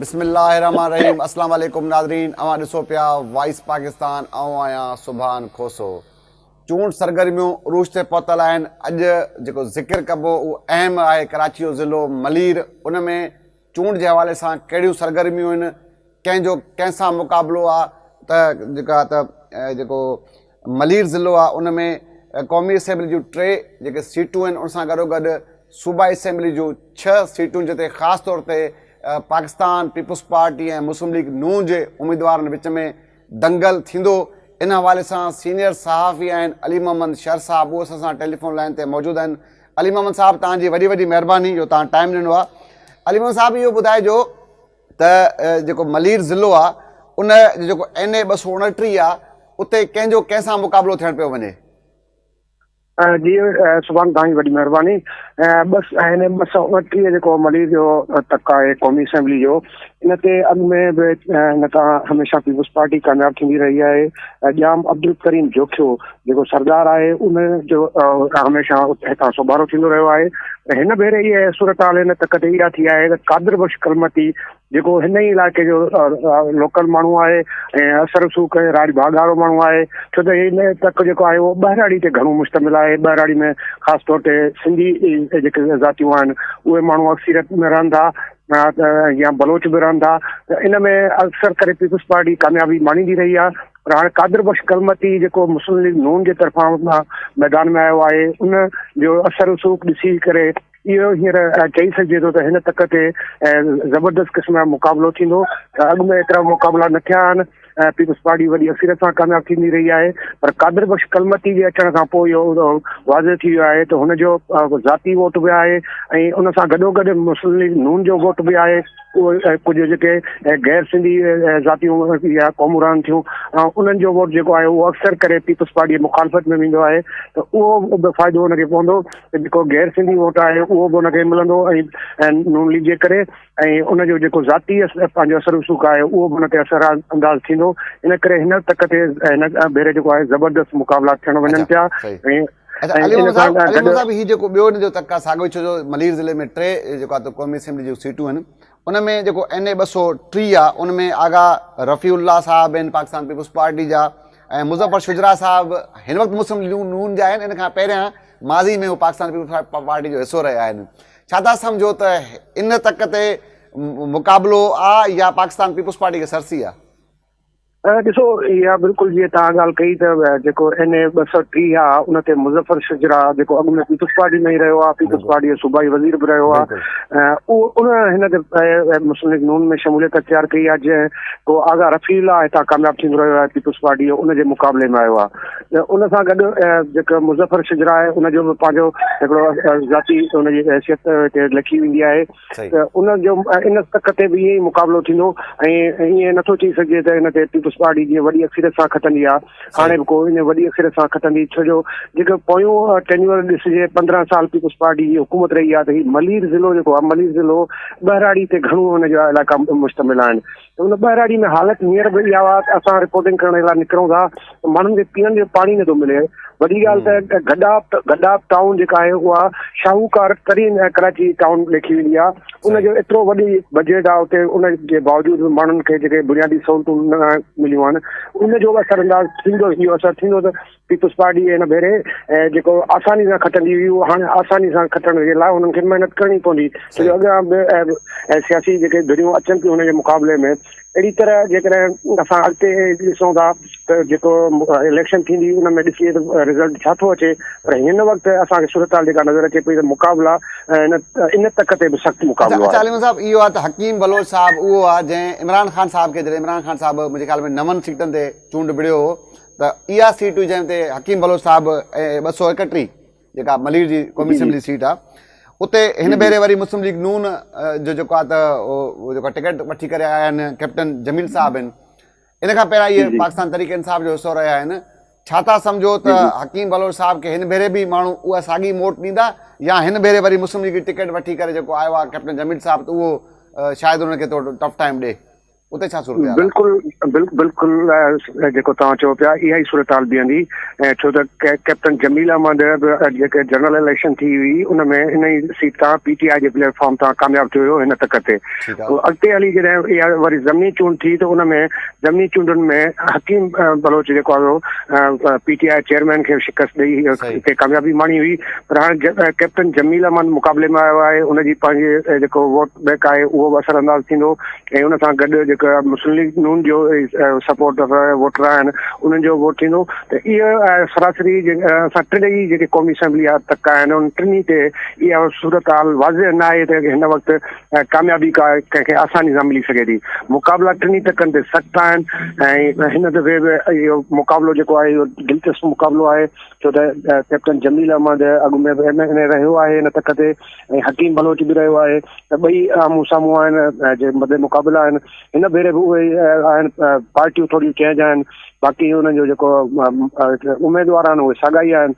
بسم الله الرحمن الرحيم اسلام عليڪم ناظرين اوهان ڏسو پيا وائس پاڪستان آئون آهيان سبحان کوسو چونڊ سرگرميون عروج تي پهتل آهن، اڄ جيڪو ذڪر ڪبو اهو اهم آهي، ڪراچي جو ضلعو ملير، ان ۾ چونڊ جي حوالي سان ڪهڙيون سرگرميون آهن، ڪنهن جو ڪنهن سان مقابلو آهي ته جيڪا ته جيڪو ملير ضلعو آهي ان ۾ قومي اسيمبلي جون ٽي جيڪي سيٽون آهن ان سان گڏو گڏ صوبائي اسيمبلي جون ڇهه سيٽون جتي خاص طور تي پاڪستان پيپلز پارٽي ۽ مسلم ليگ نون جي اميدوارن وچ ۾ دنگل ٿيندو، ان حوالي سان سينيئر صحافي آهن علي محمد شر صاحب اهو اسان سان ٽيليفون لائين تي موجود آهن علي محمد صاحب توهان جي وڏي وڏي مهرباني جو توهان ٽائيم ڏنو آهي علي محمد صاحب اهو ٻڌائجو ته جيڪو ملير ضلعو آهي ان جو جيڪو اين اي ٻه سؤ اڻٽيهه آهي اتي ڪنهن جو ڪنهن سان مقابلو ٿيڻ پيو وڃي. جي سبحان توهان جي وڏي مهرباني بس هن ٻه سؤ اڻٽيهه جيڪو ملير جو تڪ آهي قومي اسيمبلي جو ان تي اڳ ۾ به هن تان هميشه پيپلز پارٽي ڪامياب ٿيندي رهي آهي ڄام عبدالڪريم جوکيو جيڪو سردار آهي ان جو هميشه هتان سوڀارو ٿيندو رهيو آهي هن ڀيري هي صورتحال هن تڪ تي اها ٿي آهي ته قادر بخش ڪلمتي جيڪو هن ئي علائقي جو لوڪل ماڻهو آهي ۽ اثر رسوخ ڪري راڄ ڀاڳ وارو ماڻهو آهي ڇو ته هن تڪ جيڪو آهي اهو ٻهراڙي تي گهڻو مشتمل آهي ٻهراڙي ۾ خاص طور تي سنڌي جيڪي ذاتيون آهن اهي ماڻهو اڪثريت ۾ رهن ٿا يا بلوچ به رهن ٿا ته ان ۾ اڪثر ڪري پيپلز پارٽي ڪاميابي ماڻيندي رهي آهي پر هاڻي قادر بخش ڪلمتي جيڪو مسلم ليگ نون جي طرفان ميدان ۾ آيو آهي ان جو اثر رسوخ ڏسي ڪري اهو هينئر چئي سگهجي ٿو ته هن تڪ تي زبردست قسم جو مقابلو ٿيندو، اڳ ۾ ايترا مقابلا نه ٿيا آهن، پيپلز پارٽي وڏي اڪثريت سان ڪامياب ٿيندي رهي آهي پر قادر بخش ڪلمتي جي اچڻ کان پوء اهو واضح ٿي ويو آهي ته هن جو ذاتي ووٽ به آهي ۽ ان سان گڏوگڏ مسلم ليگ نون جو ووٽ به آهي، اهي ڪجهه جيڪي غير سنڌي ذاتيون يا قومون رهن ٿيون انهن جو ووٽ جيڪو آهي اهو اڪثر ڪري پيپلز پارٽي جي مخالفت ۾ ويندو آهي ته اهو به فائدو ان کي پوندو. جيڪو غير سنڌي ووٽ آهي اهو به ان کي ملندو ۽ نون ليگ جي ڪري ۽ ان جو جيڪو ذاتي پنهنجو اثر رسوخ آهي اهو به ان تي اثر انداز ٿيندو ان ڪري هن تڪ تي هن ڀيري جيڪو آهي زبردست مقابلا ٿيڻ وڃن پيا ۽ علي محمد صاحب علي محمد صاحب هي جيڪو ٻيو ان جو تڪ آهي ساڳيو ڇو جو ملير ضلعي ۾ ٽي جيڪو آهي قومي اسيمبلي جون سيٽون آهن ان ۾ جيڪو اين اي ٻه سؤ ٽيهه آ ان ۾ آغا رفيع الله صاحب آهن پاڪستان پيپلز پارٽي جا ۽ مظفر شجراع صاحب هن وقت مسلم ليگ نون جا آهن ان کان پهريان ماضي ۾ هو پاڪستان پيپلز پارٽي جو حصو رهيا آهن ڇا تها سمجهو ته ان تڪ تي مقابلو آ يا پاڪستان پيپلز پارٽي کي سرسي آ. ڏسو اها بلڪل جيئن توهان ڳالهه ڪئي ته جيڪو اين اي ٻه سؤ ٽيهه آهي ان تي مظفر شجرا جيڪو اڳ ۾ پيپلز پارٽي ۾ ئي رهيو آهي پيپلز پارٽي جو صوبائي وزير به رهيو آهي اهو ان هن تي مسلم ليگ نون ۾ شموليت اختيار ڪئي آهي جنهن ڪو آغا رفيع الله هتان کامياب ٿيندو رهيو آهي پيپلز پارٽي جو ان جي مقابلي ۾ آيو آهي ان سان گڏ جيڪو مظفر شجرا آهي ان جو به پنهنجو هڪڙو ذاتي ان جي حيثيت هتي لکي ويندي آهي ته ان جو ان تڪ تي به ائين ئي مقابلو ٿيندو ۽ ائين نٿو چئي سگهجي ته ان تي پيپلز پارٽي جيئن وڏي اڪثريت سان کٽندي آ هاڻي به ڪو ان وڏي اڪثريت سان کٽندي ڇو جو جيڪو پويون ٽينيور ڏسجي پندرهن سال پيپلز پارٽي جي حڪومت رهي آ ته هي ملير ضلعو جيڪو آ ملير ضلعو ٻهراڙي تي گهڻو ان جا علائقا مشتمل آهن هن ٻهراڙي ۾ حالت هينئر به اها آهي ته اسان رپورٽنگ ڪرڻ لاء نڪرون ٿا ته ماڻهن کي پيئڻ جو پاڻي نٿو ملي. وڏي ڳالهه ته گڏاپ گڏاپ ٽائون جيڪا آهي اها شاهوڪار ترين ۽ ڪراچي ٽائون ليکي ويندي آهي. ان جو ايترو وڏي بجيٽ آهي اتي ان جي باوجود به ماڻهن کي جيڪي بنيادي سهولتون نه مليون آهن ان جو به اثر انداز ٿيندو اهو اثر ٿيندو ته پيپلز پارٽي هن ڀيري جيڪو آساني سان کٽندي هئي اهو هاڻي آساني سان کٽڻ جي لاء انهن کي محنت ڪرڻي پوندي ڇو جو اڳيان به سياسي جيڪي ڌريون اچن ٿيون هن جي مقابلي ۾ اهڙي طرح جيڪڏهن اسان اڳتي ڏسون ٿا ته جيڪو اليڪشن ٿيندي ان ۾ ڏسي ته رزلٽ ڇا ٿو اچي پر هن وقت اسان کي صورتحال جيڪا نظر اچي پئي ته مقابلا ان ان تڪ تي به سخت مقابلو اچا عليم صاحب اهو آهي ته حڪيم بلوچ صاحب اهو آهي جنهن عمران خان صاحب کي جڏهن عمران خان صاحب منهنجي خيال ۾ نون سيٽن تي چونڊ وڙهيو هو ته اها سيٽ هئي جنهن تي حڪيم بلوچ صاحب ۽ ٻه سؤ ايڪٽيهه جيڪا ملير جي قومي اسيمبلي سيٽ آهي اتي هن ڀيري وري مسلم ليگ نون جو جيڪو آهي ته اهو جيڪو ٽڪيٽ وٺي ڪري آيا آهن ڪيپٽن جميل صاحب آهن ان کان پهريان اهي پاڪستان تحريڪ انصاف جو حصو رهيا آهن ڇا تھا سمجھو ته حڪيم بلوچ صاحب کي هن ڀيري به ماڻهو اها ساڳي موٽ ڏيندا يا هن ڀيري وري مسلم ليگ جي ٽڪيٽ وٺي ڪري جيڪو آيو آهي ڪيپٽن جميل صاحب ته اهو شايد انهن کي ٿورو ٽف ٽائيم ڏي اتي ڇا صورتحال آهي؟ بلڪل بلڪل جيڪو توهان چئو پيا اها ئي صورتحال بيهندي ڇو ته ڪئپٽن جميل احمد به جيڪي جنرل اليڪشن ٿي هئي ان ۾ ان ئي سيٽ تان پي ٽي آء جي پليٽ فارم تان ڪامياب ٿيو هيو هن تڪ تي اڳتي هلي جڏهن اها وري ضمني چونڊ ٿي ته ان ۾ ضمني چونڊن ۾ حڪيم بلوچ جيڪو آيو پي ٽي آء چيئرمين کي شڪست ڏئي کي ڪاميابي ماڻي هئي پر هاڻي ڪئپٽن جميل احمد مقابلي ۾ آيو آهي ان جي پنهنجي جيڪو ووٽ بينڪ آهي اهو به اثر انداز ٿيندو ۽ ان سان گڏ جيڪا مسلم ليگ نون جو سپورٽ ووٽر آهن انهن جو ووٽ ٿيندو ته اهو سراسري اسان ٽنهي جيڪي قومي اسيمبلي جا تڪا آهن ان ٽنهي تي اها صورتحال واضح نه آهي ته هن وقت ڪاميابي ڪا ڪنهن کي آساني سان ملي سگهي ٿي مقابلا ٽنهي تڪن تي سخت آهن ۽ هن دفعي به اهو مقابلو جيڪو آهي اهو دلچسپ مقابلو آهي ڇو ته ڪيپٽن جميل احمد اڳ ۾ به ايم اين اي رهيو آهي ان تڪ تي ۽ حڪيم بلوچ به رهيو آهي ته ٻئي آمهون سامهون آهن جي مد مقابلا آهن هن ڀيري به اهي آهن پارٽيون ٿوريون چينج آهن باقي انهن جو جيڪو اميدوار آهن اهي ساڳا ئي آهن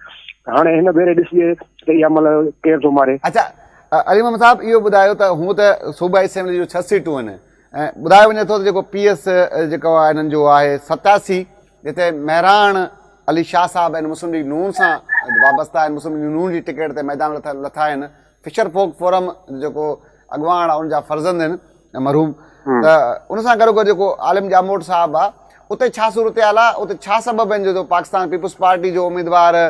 هاڻي هن ڀيري ڏسجي ته اها مل ڪير ٿو ماري اچا علي محمد صاحب اهو ٻڌايو ته هون ته صوبائي اسيمبلي جو ڇهه سيٽون آهن ۽ ٻڌايو وڃي ٿو ته جيڪو پي ايس جيڪو آهي هنن جو آهي ستاسي جتي مهراڻ علي شاهه صاحب ۽ مسلم ليگ نون سان وابسته آهن مسلم ليگ نون جي ٽڪيٽ تي ميدان ۾ لٿا آهن فشر فوڪ فورم جيڪو اڳواڻ آهي ان جا فرزند آهن مرحوم ته ان سان گڏو گڏ جيڪو عالم ڄاموٽ صاحب آهي اتي ڇا صورتحال آهي اتي ڇا سبب آهن جو پاڪستان پيپلز پارٽي جو اميدوار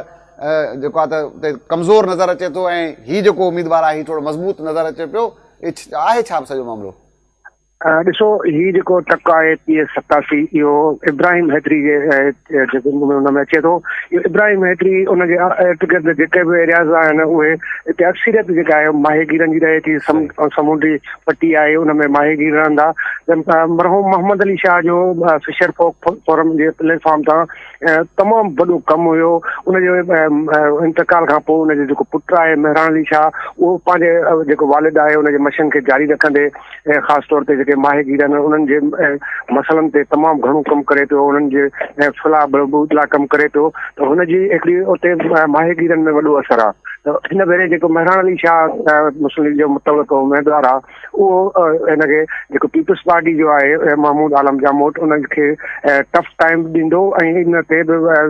جيڪو آهي ته اتي ڪمزور نظر اچي ٿو ۽ هي جيڪو اميدوار آهي هي ٿورو مضبوط نظر اچي پيو آهي ڇا سڄو معاملو ڏسو هي جيڪو ٽڪ آهي پي ايس ستاسي اهو ابراهيم حيدري جي ان ۾ اچي ٿو ابراهيم حيدري ان جي ارد گرد جيڪي به ايرياز آهن اهي هتي اڪثريت جيڪا آهي ماهي گيرن جي رهي ٿي سمونڊي پٽي آهي ان ۾ ماهي گير رهندا مرحوم محمد علي شاهه جو فشر فورم جي پليٽ فارم تان تمام وڏو ڪم هيو ان جي انتقال کان پوء ان جو جيڪو پٽ آهي مهراڻ علي شاهه اهو پنهنجي جيڪو والد آهي ان جي مشن کي جاري رکندي خاص طور تي جيڪي ماهي گير آهن انهن جي مسئلن تي تمام گهڻو ڪم ڪري پيو انهن جي فلاح بهبود لاء ڪم ڪري پيو ته هن جي هڪڙي اتي ماهي گيرن ۾ وڏو اثر آهي ته هن ڀيري جيڪو مهراڻ علي شاهه مسلم ليگ جو متعلق اميدوار آهي اهو هن کي جيڪو پيپلز پارٽي جو آهي محمود عالم جاموٽ ان کي ٽف ٽائيم ڏيندو ۽ ان تي به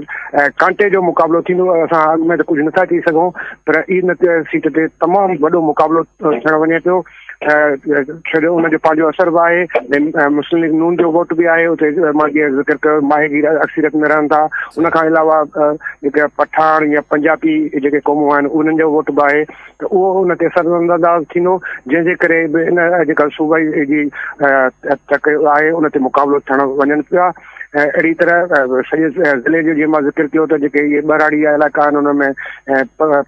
ڪانٽي جو مقابلو ٿيندو اسان اڳ ۾ ته ڪجهه نٿا چئي سگهون پر ان سيٽ تي تمام وڏو مقابلو ٿيڻ وڃي پيو ڇو جو ان جو پنهنجو اثر به آهي مسلم ليگ نون جو ووٽ به آهي اتي مان جيئن ذڪر ڪيو ماهيگير اڪثريت ۾ رهن ٿا ان کان علاوه جيڪا پٺاڻ يا پنجابي جيڪي قومون آهن انهن جو ووٽ به آهي ته اهو ان تي اثرانداز ٿيندو، جنهن جي ڪري به ان اڄڪلهه صوبائي جي تڪ آهي، ان تي مقابلو ٿيڻ وڃن پيا. اهڙي طرح سڄي ضلعي جو جيئن مان ذڪر ڪيو ته جيڪي اهي ٻهراڙي جا علائقا آهن، انهن ۾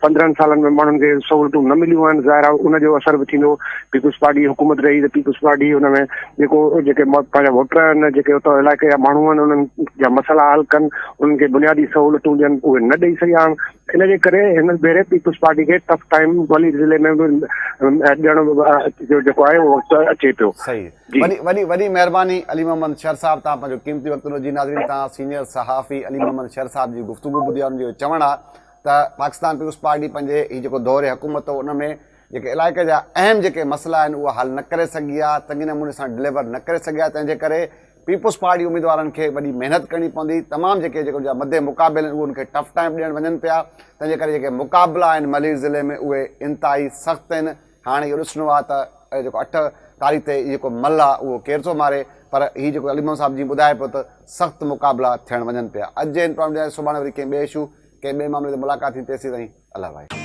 پندرهن سالن ۾ ماڻهن کي سهولتون نه مليون آهن، ظاهر آهي ان جو اثر به ٿيندو. پيپلز پارٽي جي حڪومت رهي ته پيپلز پارٽي ان ۾ جيڪو جيڪي پنهنجا ووٽر آهن، جيڪي اتان علائقي جا ماڻهو آهن، انهن جا مسئلا حل ڪن، انهن کي بنيادي سهولتون ڏين، اهي نه ڏئي سگهيا آهن. ان جي ڪري هن ڀيري پيپلز پارٽي کي ٽف ٽائيم ولي ضلعي ۾ به ڏيڻ جو جيڪو آهي اهو وقت اچي پيو. صحيح وڏي وڏي وڏي مهرباني علي محمد شر صاحب تان پنهنجو قيمتي وقت ڏنو جي ناظرين تان سينيئر صحافي علي محمد شر صاحب جي گفتگو ٻڌي ان جو چوڻ آ ته پاڪستان پيپلز پارٽي پنهنجي هي جيڪو دور حڪومت هو ان ۾ جيڪي علائقي جا اهم جيڪي مسئلا آهن اهي حل نه ڪري سگهي آ چڱي نموني سان ڊليور نه ڪري سگهي آ تنهن جي ڪري پيپلز پارٽي اميدوارن کي وڏي محنت ڪرڻي پوندي تمام جيڪي جيڪي ان جا مد مقابل آهن اهي ان کي ٽف ٽائيم ڏيڻ وڃن پيا تنهن جي ڪري جيڪي مقابلا آهن ملير ضلعي ۾ اهي انتهائي سخت آهن هاڻي اهو ڏسڻو آهي ته اهي جيڪو اٺ تاريخ تي هي جيڪو مل آهي اهو ڪير ٿو ماري پر هي جيڪو علي محمد صاحب جي ٻڌائي پيو ته سخت مقابلا ٿيڻ وڃن پيا اڄ جي هن پروگرام ڏياري سڀاڻي وري ڪنهن ٻئي اشو ڪنهن ٻئي معاملي تي ملاقات ٿي تيسي تائين الله وائي